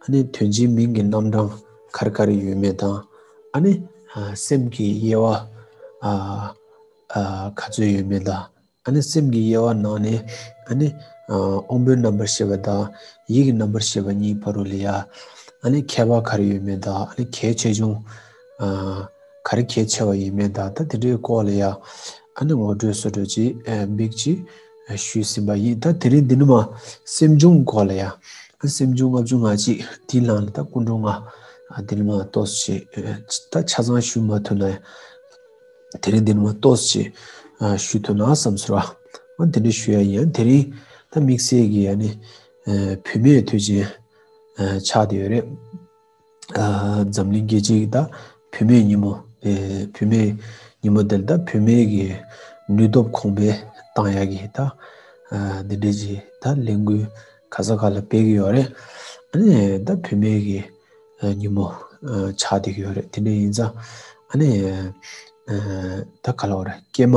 ཨ་ནི་དོན་གྱི་མིང་གི་རྣམ་གྲངས་གར་གར་ཡོད་མེད་དང། ཨ་ནི་སེམས་ཀྱི་དབྱེ་བ་ག་ཚོད་ཡོད་མེད་དང། ཨ་ནི་སེམས་ཀྱི་དབྱེ་བ་ནང་ནས་ཨ་ནི་དབང་པོའི་རྣམ་པར་ཤེས་པ་དང་ཡིད་ཀྱི་རྣམ་པར་ཤེས་པ་གཉིས་བར་རོ་ལི་ཡ། ཨ་ནི་ཁྱད་པར་གར་ཡོད་མེད་དང་ཨ་ནི་གལ་ཆེ་ཆུང་གར་གལ་ཆེ་བ་ཡིན་མིན་དང་ད་དེ་འདྲའི་སྐོར་ལ་ཡང་ཨ་ནི་ངོ་སྤྲོད་སོ་སྤྲོད་ཅིག་འབིགས་ཅིག། ཞུས་ཟིན་པ་ཡིན། ད་དེ་རིང་འདི་ནི་མ། སེམས་བྱུང་སྐོར་ལ་ཡང། སེམས་བྱུང་ལྔ་བཅུ་ང་གཅིག་དེའི་ནང་ནས་ད་སྐུ་མགྲོན་ང། འདི་ནི་མ་ལྟོས་བྱེད། ད་ཆ་ཚང་ཞུས་མ་ཐུབ་ན་ཡང། དེ་རིང་འདི་ནི་མ་ལྟོས་བྱེད། ཞུས་ཐུབ་ན་བསམ་ཟེར་བ། འོན་དེ་འདྲ་ཞུས་ཡ་ཡིན། དེ་རིང་ད་དམིགས་བསལ་གྱི་ཡ་ནི། བུད་མེད་དུས་ཆེན། ཆགས་འདི་ཡོད་རེད། འཛམ་གླིང་རྒྱལ་སྤྱིའི་ད་བུད་མེད་ཉིན་མོ། བུད་མེད་ཉིན་མོ་དེར་ད་བུད་མེད་ཀྱི་ནུས་སྟོབས་གོང་འཕེལ་གཏང་ཡག་གི་ད་འདི་འདྲའི་ཆེ་ད་ལས་འགུལ་ག་ས་ག་ལ་སྤེལ་གི་ཡོད་རེད། ཨ་ནི་ད་བུད་མེད་ཀྱི་ཉིན་མོ་ཆགས་བསྡད་ཀྱི་ཡོད་རེད་དེ་འདྲ་ཡིན་ཙང་ཨ་ནི་ད་ག་ལ་བ་རེད་སྐྱེས་མ།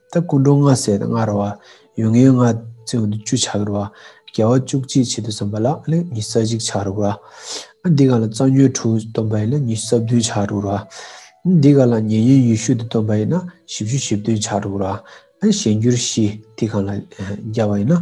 ད་སྐུ་མགྲོན་ལྔ་བསད་དང་ལྔ་རུ་བ། ཡུལ་ངན་ལྔ་བཙོས་འདི་བཅུ་ཆགས་རུ་བ། རྒྱལ་བ་བཅུ་གཅིག་ཕྱི་དུ་བསམ་པ་ལ་ལི་ཉི་ས་གཅིག་ཆགས་རུ་བ། འདི་ག་ལ་རྩ་ཉོན་དྲུག་སྟོན་པ་ཡིན་ལི་ཉི་ས་བདུན་ཆགས་རུ་བ། འདི་ག་ལ་ཉེ་ཉོན་ཡུལ་ཤུལ་དུ་སྟོན་པ་ཡིན་ན་བཞི་བཅུ་བཞི་བདུན་ཆགས་རུ་བ། གཞན་འགྱུར་བཞི་འདི་ག་ལ་རྒྱ་བ་ཡིན་ན་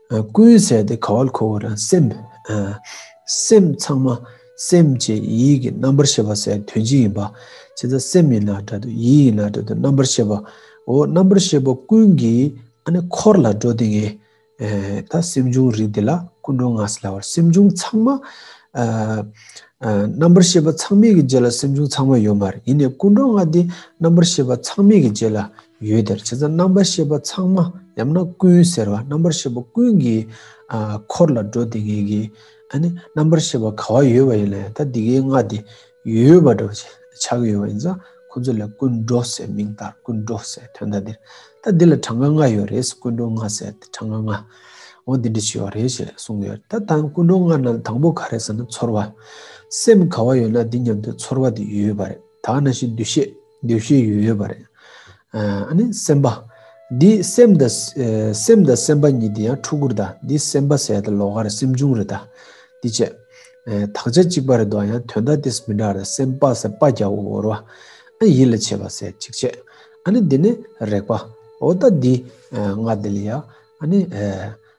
ཀུན་གསལ་ཏེ་ག་བལ་ཁོ་བོ་རང་སེམས། སེམས་ཚང་མ་སེམས་ཅན་ཡིད་ཀྱི་རྣམ་པར་ཤེས་པ་སའི་དོན་སྤྱི་ཡིན་པ། ཇི་ལྟར་སེམས་ཡིན་ན་སྒྲ་དོན་ཡིད་ཡིན་ན་སྒྲ་དོན་རྣམ་པར་ཤེས་པའོ། རྣམ་པར་ཤེས་པ་ཀུན་གྱི་འཁོར་ལ་འགྲོ་དེ་ངས། ད་སེམས་བྱུང་རིགས་དེ་ལ་ཀུན་འགྲོ་ངག་སེལ་བར་སེམས་བྱུང་ཚང་མ། རྣམ་པར་ཤེས་པ་ཚང་མིག་གི་རྗེས་ལ་སེམས་བྱུང་ཚང་མ་ཡོད་མ་རེད་ཡིན་ནས་ཀུན་འགྲོ་ངག་འདི་རྣམ་པར་ཤེས་པ་ཚང་མིག་གི་རྗེས་ལ་ཡུལ་དེར་བྱེད་རྩ་རྣམ་པར་ཤེས་པ་ཚང་མ་ཡང་ན་ཀུན་ཟེར་བ་རྣམ་པར་ཤེས་པ་ཀུན་གྱི་འཁོར་ལ་འགྲོ་དེ་ངེས་ཀྱི། རྣམ་པར་ཤེས་པ་ག་བ་ཡོད་པ་ཡིན་ལ་ཡང་ད་འདི་གའི་སྔགས་འདི་ཡོད་པ་འདྲ་བ་ཆགས་ཀྱི་ཡོད་པ་ཡིན་ས་ཁོ་ཚོ་ལ་ཀུན་འགྲོ་ཟེར་མིང་ལྟར་ཀུན་འགྲོ་ཟེར་དོན་དང་འདིར་ད་འདི་ལ་གྲངས་ཀ་ལྔ་ཡོད་རེད་ཀུན་འགྲོ་ལྔ་ཟེར་ཏེ་གྲངས་ཀ་ལྔ་འོ་འདི་འདྲ་བྱས་པ་རེད་ཞེས་གསུངས་ཀྱི་ཡོད་ད་དང་ཀུན་འགྲོ་ལྔ་རྣམས་ལ་དང་པོ་ག་རེད་ཟེར་ན་ཚོར་བ་སེམས་ག་བ་ཡོད་ན་འདི་མཉམ་དུ་ཚོར་བ་དེ་ཡོད་པ་རེད་ད་ན་ཞིག་འདུ་ཤེས། འདོད་ཤེས་ཡོད་ཡོད་པ་རེད། ཨ་ནི་སེམས་པ། འདི་སེམས་དང། སེམས་དང་སེམས་པ་གཉིས་འདི་ཡང་ཕྲུ་གུར་དང་འདི་སེམས་པ་ཟད་དང་ལོ་ཀར་སེམས་བྱུང་རེད་ད། འདི་བཅས། དག་ཆ་གཅིག་པ་རེད་དོ་ཡང་དོན་དག་དེས་མི་འདྲ་རེད་སེམས་པ་ཟེར་པ་རྒྱ་བོ་བོར་བ། ཨ་ནི་ཡིད་ལ་བྱེད་པ་ཟེར་གཅིག་བྱས། ཨ་ནི་འདི་ནི་རེག་པ། འོ་ད་འདི། ང་འདི་ལ་ཡ། ཨ་ནི།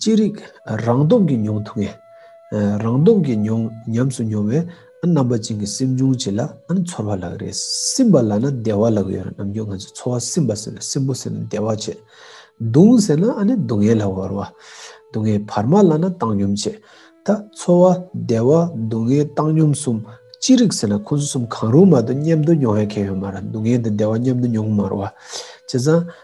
ཅི་རིགས་རང་སྟོབས་ཀྱིས་མྱོང་ཐུབ་ངེས། རང་སྟོབས་ཀྱིས་མྱོང་ཉམས་སུ་མྱོང་བས་རྣམ་པ་ཅན་གྱི་སེམས་འབྱུང་བྱེད་ལ་ཚོར་བ་ལག་རེད། སིམ་པ་ལ་ན་བདེ་བ་ལག་ཡོད་རྣམས་ཀྱང་ང་ཚོས་ཚོར་བ་སིམ་པ་ཟེར་བས་སིམ་པོ་ཟེར་ན་བདེ་བ་བྱེད། གདུང་ཟེར་ན་སྡུག་བསྔལ་ལ་བོར་བ། སྡུག་བསྔལ་བར་མ་ལ་ན་བཏང་སྙོམས་བྱེད། ད་ཚོར་བ་བདེ་བ་སྡུག་བསྔལ་བཏང་སྙོམས་གསུམ་ཅི་རིགས་ཟེར་ན་ཁོང་ཚོ་གསུམ་གང་རུང་མ་གཏོགས་མཉམ་དུ་མྱོང་བའི་ཁྱད་ཡོད་མ་རེད་སྡུག་བསྔལ་དང་བདེ་བ་མཉམ་དུ་མྱོང་མ་རུང་བ་བྱས་ཙང།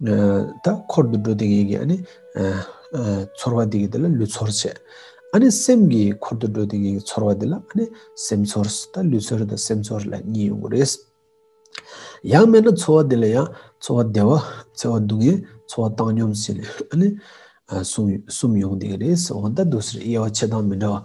ད་འཁོར་དུ་འགྲོ་དེ་གི་གི་ཨ་ནི་ཚོར་བ་དེ་གི་དེ་ལ་ལུས་ཚོར་བྱེད། ཨ་ནི་སེམས་ཀྱི་འཁོར་དུ་འགྲོ་དེ་གི་གི་ཚོར་བ་དེ་ལ་ཨ་ནི་སེམས་ཚོར། ད་ལུས་ཚོར་དང་སེམས་ཚོར་ལ་གཉིས་ཡོང་གི་རེད། ཡང་སྨྲས་ན་ཚོར་བ་དེ་ལ་ཡང་ཚོར་བ་བདེ་བ་འཚེར་བ་སྡུག་བསྔལ་ཚོར་བ་བཏང་སྙོམས་བྱེད་ལས་ཨ་ནི་གསུམ་ཡོང་དེ་གི་རེད། འོ་ད་དུ་ཟེར་དབྱེ་བ་ཕྱེད་དང་མི་འདྲ་བ།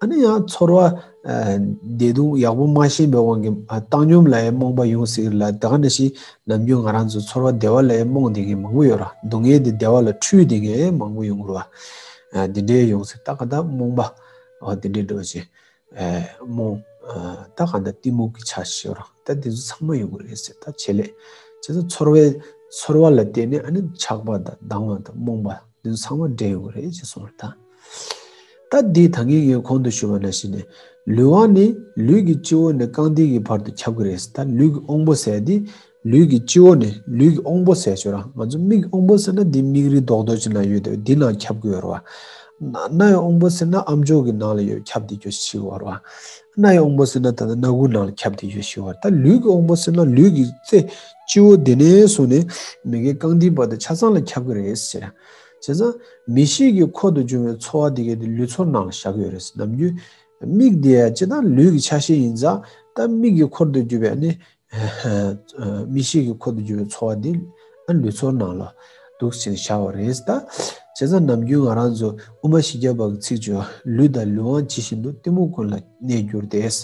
ཨ་ནི་ཡང་ཚོར་བ། བདེ་སྡུག་ཡག་པོ་མ་ཤེས་པའི་དབང་གིས་བཏང་སྙོམས་ལ་ཡང་རྨོངས་པ་ཡོང་སྲིད་ལ་དེ་ག་འདྲ་ཞིག་ནམ་རྒྱུན་ང་རང་ཚོ་ཚོར་བ་བདེ་བ་ལ་ཡང་རྨོངས་དེ་ངས་མང་པོ་ཡོད་ར་སྡུག་བསྔལ་དེ་བདེ་བ་ལ་འཁྲུལ་དེ་ངས་མང་པོ་ཡོང་རུ་བ། དེ་འདྲའི་ཡོང་སྲིད་ད་ག་འདྲ་རྨོངས་པ། འོ་དེ་འདྲའི་འགྲོ་ཅིག། རྨོངས། ད་ག་འདྲ་གཏི་མུག་གི་ཆ་ཤས་ར་ད་དེ་ཚོ་ཚང་མ་ཡོང་གི་རེད་ཟེར་ད་བྱེད་ལས། བྱས་ཙང་ཚོར་བའི། ཚོར་བ་ལ་བརྟེན་ནས་ཨ་ནི་ཆགས་པ་དང་སྡང་བ་དང་རྨོངས་པ་དེ་ཚོ་ཚང་མ་འདྲེས་ཡོང་གི་རེད་ཅེས་གསུངས་ར་ད། སྟབས་བདེའི་ད་ངན་ངན་གོང་དུ་ཞུ་བ་ན་བཞིན་ནས། ལུས་དབང་ནི་ལུས་ཀྱི་སྤྱི་བོ་ནས་རྐང་མཐིལ་གྱི་བར་དུ་ཁྱབ་གི་རེད། ད་ལུས་ཀྱི་དབང་པོ་ཟེར་དེ། ལུས་ཀྱི་སྤྱི་བོ་ནས་ལུས་ཀྱི་དབང་པོ་ཟེར་ཆོག་རང་ཚོ་མིག་གི་དབང་པོ་ཟེར་ན་དེ་མིག་རིལ་རྡོག་རྡོག་ཅིག་ན་ཡོད་དེ་དེ་ནང་ཁྱབ་གི་ཡོད་རེད་བ། སྣའི་དབང་པོ་ཟེར་ན་ཨ་མཆོག་གི་ནང་ལ་ཡོད་ཁྱབ་དེ་ཁྱོད་ཤི་གི་བར་བ། སྣའི་དབང་པོ་ཟེར་ན་ད་ལྟ་སྣ་དགུ་ནང་ལ་ཁྱབ་དེ་ཁྱོད་ཤི་གི་བར་ད་ལུས་ཀྱི་དབང་པོ་ཟེར་ན་ལུས་ཀྱི་རྩེ་སྤྱི་བོ་དེ་ནས་བཟུང་ནས་མི་གའི་རྐང་མཐིལ་བར་དུ་ཆ་ཚང་ལ་ཁྱབ་གི་རེད་ཟེར། བྱས་ཙང། མི་ཞིག་གི་འཁོར་དུ་བྱུང་བའི་ཚོར་བ་དེ་གས་དེ་ལུས་ཚོར་ནང་བཞག་ཡོད་རེད་བསམ་རྒྱུ། མིག་དེ་ཅི་ལྟར་ལུས་ཀྱི་ཆ་ཤས་ཡིན་ཙང་ད་མིག་གི་འཁོར་དུ་གྱུར་པའི་ནི། མི་ཞིག་གི་འཁོར་དུ་གྱུར་བའི་ཚོར་བ་དེ། ལུས་ཚོར་ནང་ལ། འདུག་ཅིང་བཞག་བ་རེད་ད། བྱས་ཙང་ནམ་རྒྱུན་ང་རང་ཚོ་དབུ་མ་བཞི་བརྒྱ་པ་གི་ཚིག་བརྗོད་ལུས་དང་ལུས་དབང་ཇི་བཞིན་དུ་གཏི་མུག་ཀུན་ལ་གནས་གྱུར་ཏེ། བྱས་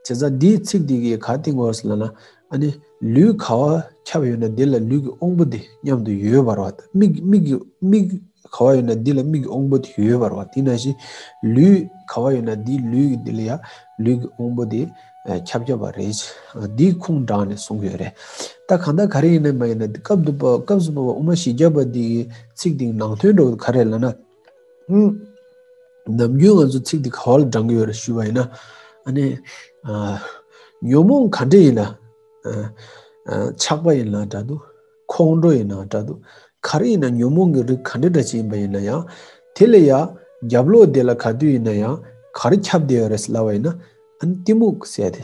ཙང་འདིའི་ཚིག་དེ་གས་ག་དེ་ངོ་ལ་ན། ཨ་ནི། ལུས་ག་བ་ཁྱབ་ཡོད་ན་དེ་ལ་ལུས་ཀྱི་དབང་པོ་དེ་མཉམ་དུ་ཡོད་པར་བ། མིག་གི་མིག་ག་བ་ཡོད་ན་དེ་ལ་མིག་གི་དབང་པོ་དེ་ཡོད་པར་བ། དེ་ནང་བཞིན། ལུས་ག་བ་ཡོད་ན་དེའི་ལུས་དེ་ལ་ཡང་ལུས་ཀྱི་དབང་པོ་དེ་ཁྱབ་ཁྱབ་པ་རེད། འདིའི་ཁུངས་དྲངས་ནས་གསུངས་ཡོད་རེད། ད་གང་དང་ག་རེ་ཡིན་ནམ་མ་ཡིན་ན་དེ་སྐབས་སུ་པ་པ་དབུ་མ་བཞི་བརྒྱ་པ་འདིའི་ཚིག་དེའི་ནང་དོན་འགྲོ་གི་ག་རེ་ལ་ན། ནམ་རྒྱུན་ང་ཚོ་ཚིག་འདི་ག་བ་ལ་བགྲང་གི་ཡོད་རེད་ཞུས་པ་ཡིན་ན། ཉོན་མོངས་ག་འདྲེ་ཡིན་ལ། ཆགས་པ་ཡིན་ལ་འདྲ་འདུག་ཁོང་ཁྲོ་ཡིན་ལ་འདྲ་འདུག་ག་རེ་ཡིན་ན་ཉོན་མོངས་ཀྱི་རིགས་ག་འདྲེ་འདྲ་ཅིག་ཡིན་པ་ཡིན་ན་ཡང། དེ་ལ་ཡང་རྒྱབ་ལོག་དེ་ལ་ག་དུས་ཡིན་ན་ཡང་ག་རེ་ཁྱབ་བསྡད་ཡོད་རེད་ཟེར་སླ་བ་ཡིན་ན། གཏི་མུག་ཟེར་ཏེ།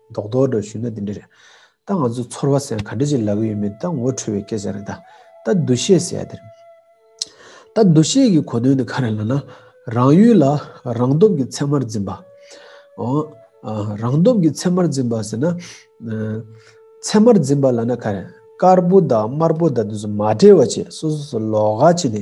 མདོག་མདོག་འདྲ་ཞུས་ན་དེ་འདྲ་རེད། ད་ང་ཚོ་ཚོར་བ་ཟན་ག་འདྲ་ཅིག་ལག་གི་ཡོད་མེད་ད་ངོ་འཕྲོད་བའི་སྐད་ཆ་རེད། ད་འདུ་ཤེས་ཟེར་ཡ་དེ་རེད། ད་འདུ་ཤེས་ཀྱི་གོ་དོན་ནི་ག་རེད་ལ་ན། རང་ཡུལ་ལ་རང་སྟོབས་ཀྱི་ཚད་མར་འཛིན་པ། རང་སྟོབས་ཀྱི་ཚད་མར་འཛིན་པ་ཟེར་ན། ཚད་མར་འཛིན་པ་ལ་ན་ག་རེད། དཀར་པོ་དང་དམར་པོ་དང་དེ་ཚོ་མ་འབྲེལ་བ་བྱེད་སོ་སོ་སོ་ལོག་ལྷག་བྱེད་དེ།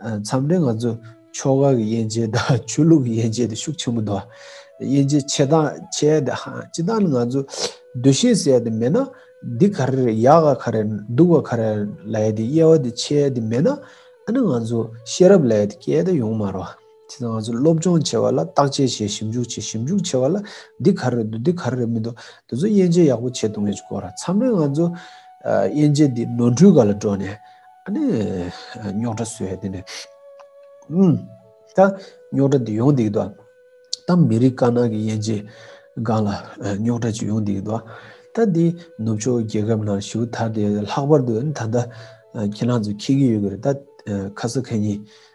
མཚམས་རེ་ང་ཚོས་ཕྱོགས་ཁག་གི་དབྱེ་འབྱེད་དང་ཆོས་ལུགས་ཀྱི་དབྱེ་འབྱེད་དེ་ཤུགས་ཆེན་པོ་འདུག་དབྱེ་འབྱེད་ཆེ་དང་ཆེ་དེ་སྤྱི་བཏང་ནི་ང་ཚོའི་འདུ་ཤེས་ཟེར་དེ་མེད་ན་འདི་ག་རེ་རེད་ཡག་ག་ག་རེ་སྡུག་ག་ག་རེ་ལ་ཡོད་དེ་དབྱེ་བ་དེ་ཆེ་དེ་མེད་ན་ཨ་ནི་ང་ཚོ་ཤེས་རབ་ལ་ཡོད་དེ་སྐད་དེ་ཡོང་མ་རུང། ཁྱེད་ང་ཚོ་སློབ་སྦྱོང་བྱེད་པ་ལ་བརྟག་དཔྱད་བྱེད་ཞིབ་འཇུག་བྱེད་ཞིབ་འཇུག་བྱེད་པ་ལ་འདི་ག་རེ་རེད་འདུག་འདི་ག་རེ་རེད་མི་འདུག་དེ་ཚོ་དབྱེ་འབྱེད་ཡག་པོ་བྱེད་འདུག་མེད་ཀྱི་སྐོར་ཚང་མས་ང་ཚོ་དབྱེ་འབྱེད་འདི་ནོར་འཁྲུལ་ག་ལ་འགྲོ་ནས་ཨ་ནི་རྙོག་དྲ་བཟོས་ཡོད་དེ་ནས་ཨུམ། ད་རྙོག་དྲ་འདི་ཡོང་སྡིག་ཏོ། ད་མི་རིགས་དཀར་ནག་གི་དབྱེ་འབྱེད་སྒང་ལ་རྙོག་དྲ་ཅིག་ཡོང་སྡིག་ཏོ། ད་འདི་ནུབ་ཕྱོགས་རྒྱལ་ཁབ་ནང་ཞུགས་ཐར་ཏེ་ལྷག་པར་དུ་ཨ་ནི་ད་ལྟ་ཁྱེད་རང་ཚོ་ཁེལ་གྱི་ཡོད་ཀྱི་རེད་ད་ཁ་ས་ཁ་ཉིན་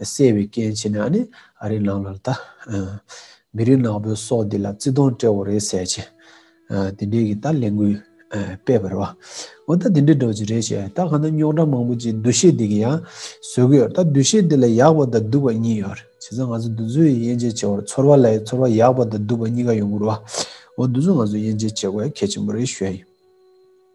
གསལ་བའི་སྐྱེ་མཆེད་ནི་ཨ་ནི་ཨ་རིའི་ནང་ལ་ལྟ། མི་རིགས་ནག་པོའི་སྲོག་འདི་ལ་བརྩི་མཐོང་སྤྲེ་བོ་རེད་ཟེར་ཅིང། དེ་འདྲའི་གི་ད་ལས་འགུལ་སྤེལ་བར་བ། འོ་ད་དེ་འདྲའི་འགྲོ་ཅི་རེད་ཞེས་ད་གང་ན་རྙོག་དྲ་མང་པོ་ཅིག་འདུ་ཤེས་འདི་གི་ཡང་བཟོས་གི་ཡོད་ད་འདུ་ཤེས་འདི་ལ་ཡག་པ་དང་སྡུག་པ་གཉིས་ཡོད་རེད་བྱས་ཙང་ང་ཚོ་འདུ་འཛོལ་ཡི་དབྱེ་འབྱེད་བྱེད་བར་ཚོར་བ་ལ་ཡི་ཚོར་བ་ཡག་པ་དང་སྡུག་པ་གཉིས་ཀ་ཡོང་དགོས་རེད་བ། འོ་འདུ་འཛོལ་ང་ཚོ་དབྱེ་འབྱེད་བྱེད་དགོས་གལ་ཆེན་པོ་རེད་ཞུ་ཡ་ཡིན།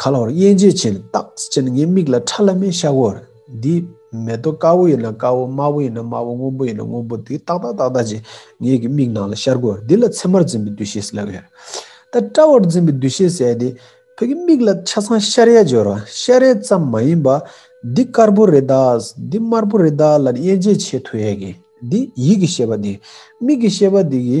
ག་ལ་བར་དབྱེན་འབྱེད་བྱས་ནས་བརྟགས་ཅེ་ན་ངའི་མིག་ལ་ཁྲ་ལ་མའི་ཤ་བོར། འདི་མེ་ཏོག་དཀར་བོ་ཡིན་ན་དཀར་བོ་དམར་བོ་ཡིན་ན་དམར་བོ་སྔོན་པོ་ཡིན་ན་སྔོན་པོ་དེ་ཏག་ཏག་ཏག་ཏག་ཅེས་ངའི་གི་མིག་ནང་ལ་ཤར་བོར་འདི་ལ་མཚན་མར་འཛིན་པའི་འདུ་ཤེས་ཟེར་ལབ་ཡོད། ད་སྤྲ་བར་འཛིན་པའི་འདུ་ཤེས་ཟེར་དེ་བོད་ཀྱི་མིག་ལ་ཆ་ཚང་ཤར་ཡ་སྦྱོར་བ་ཤར་ཡ་ཙམ་མ་ཡིན་པར་འདི་དཀར་བོ་རེད་ད་འདི་དམར་བོ་རེད་ད་ལ་དབྱེན་འབྱེད་བྱེད་ཐུབ་ཡས་གི་འདི་ཡིད་ཀྱི་ཤེས་པ་འདི་མིག་གི་ཤེས་པ་འདི་གི།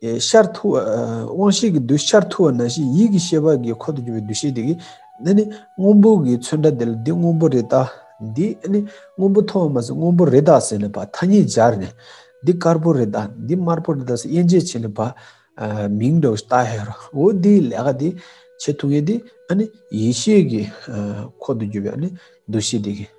ཤར་ཐུ་བ། དབང་ཤེས་ཀྱི་རྡུལ་ཤར་ཐུ་བ་ན་བཞིན་ཡིད་ཀྱི་ཤེས་པ་དགའི་འཁོར་དུ་གྱུར་པའི་འདུ་ཤེས་དེ་གིས་ནི་ནི། སྔོན་པོ་གིས་མཚོན་འདྲ་དེ་ལ་འདི་སྔོན་པོ་རེད་ད། འདི་ནི། སྔོན་པོ་མཐོང་བ་མ་ཟད་སྔོན་པོ་རེད་ད་ཟེར་ནས་བ་ཐ་སྙད་སྦྱར་ནས། འདི་དཀར་པོ་རེད་ད། འདི་དམར་པོ་རེད་ད་ཟེར་དབྱེ་འབྱེད་བྱས་ནས་བ། མིང་འདྲ་བོ་ཞིག་བཏགས་ཡོད་རུང་འོ་འདིའི་ལས་ཀ་དེ། བྱེད་ཐུབ་ངེས་དེ། ནི། ཡིད་ཤེས་ཀྱི། འཁོར་དུ་གྱུར་པའི་ནི། འདུ་ཤེས་དེ་གིས།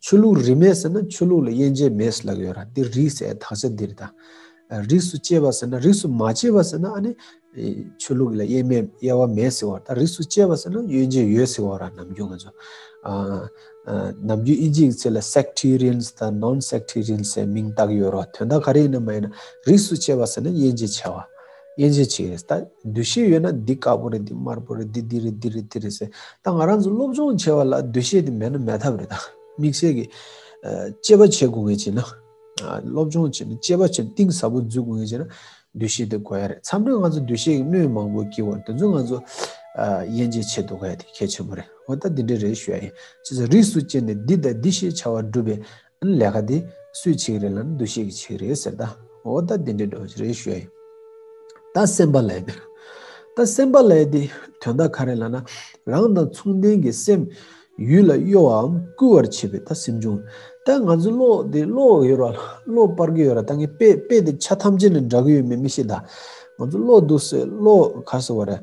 ཆོས་ལུགས་རིས་མེད་ཟེར་ན་ཆོས་ལུགས་ལ་དབྱེ་འབྱེད་མེད་ཟེར་ལབ་ཡོད་ར་འདི་རིས་ཟེར་དག་ཆ་འདིར་ད། རིས་སུ་གཅེས་པ་ཟེར་ན་རིས་སུ་མ་གཅེས་པ་ཟེར་ན་ཨ་ནི། ཆོས་ལུགས་ལ་དབྱེ་མེད་དབྱེ་བ་མེད་ཟེར་བ་ད་རིས་སུ་གཅེས་པ་ཟེར་ན་དབྱེ་འབྱེད་ཡོད་ཟེར་བ་ར་ནམ་རྒྱུན་ང་ཚོ། ནམ་རྒྱུན་ཨིན་ཇིའི་ཚིག་ལ Sectarians དང Non Sectarians ཟེར་མིང་བཏགས་ཡོད་ར་དོན་དག་ག་རེ་ཡིན་ན་མ་ཡིན་ན་རིས་སུ་གཅེས་པ་ཟེར་ན་དབྱེ་འབྱེད་ཆེ་བ། དབྱེ་འབྱེད་བྱེད་ཡོད། ད་འདུ་ཤེས་ཡོད་ན་འདི་དཀར་པོ་རེད་འདི་དམར་པོ་རེད་འདི་འདི་རེད་འདི་རེད་འདི་རེད་ཟེར། ད་ང་རང་ཚོ་སློབ་སྦྱོང་བྱེད་པ་ལ་འདུ་ཤེས་དེ་མེད་ན་མེད་ཐབས་རེད། དམིགས་བསལ་གྱི། དཔྱད་པ་བྱེད་དགོས་ངེས་བྱེད་ན། སློབ་སྦྱོང་བྱེད་ན་དཔྱད་པ་བྱེད་གཏིང་ཟབ་པོ་འཛུལ་དགོས་ངེས་བྱེད་ན། འདུ་ཤེས་དེ་གོ་ཡ་རེད། མཚམས་རེ་ང་ཚོ་འདུ་ཤེས་ཀྱི་སྣོད་མང་པོ་སྐྱེ་བར་དེ་ཚོ་ང་ཚོ། དབྱེ་འབྱེད་བྱེད་དོ་ག་ཡ་དེ་གལ་ཆེན་པོ་རེད། འོ་ད་འདི་འདྲའི་རེད་ཞུ་ཡ་ཡིན། ཅེས་སོགས་རིས་སུ་བཅད་ནས་འདི་དང་འདི་ཞེས་བྱ་བ་སྒྲུབ་པའི། ལས་ཀ་འདི་སུའི་ཆིག་རེད་ལ་འདུ་ཤེས་ཀྱི་ཆིག་རེད་ཟེར་ད་འོ་ད་འདི་འདྲའི་འགྲོ་བྱེད་རེད་ཤོད་ཡིན། ད་སེམས་པ་ལས་འདིར་ད་སེམས་པ་ལས་འདི་དོན་དག་ག་རེ་ལ་ན་རང་དང་མཚུངས་ལྡན་གྱི་སེམས་ཡུལ་ལ་གཡོ་བའམ་སྐུལ་བར་བྱེད་པའི་ད་སེམས་བྱུང། ད་ང་ཚོའི་བློ་འདི་བློ་ཡོད་ར་བློ་སྤར་གི་ཡོད་ར་ད་ངས་དཔེ་དཔེ་འདི་ཆ་ཐམས་ཅད་ནས་འདྲ་གི་ཡོད་མེད་མི་ཤེས་ད་ང་ཚོའི་བློ་སྡུག་སེ་བློ་ག་སེ་བ་རེད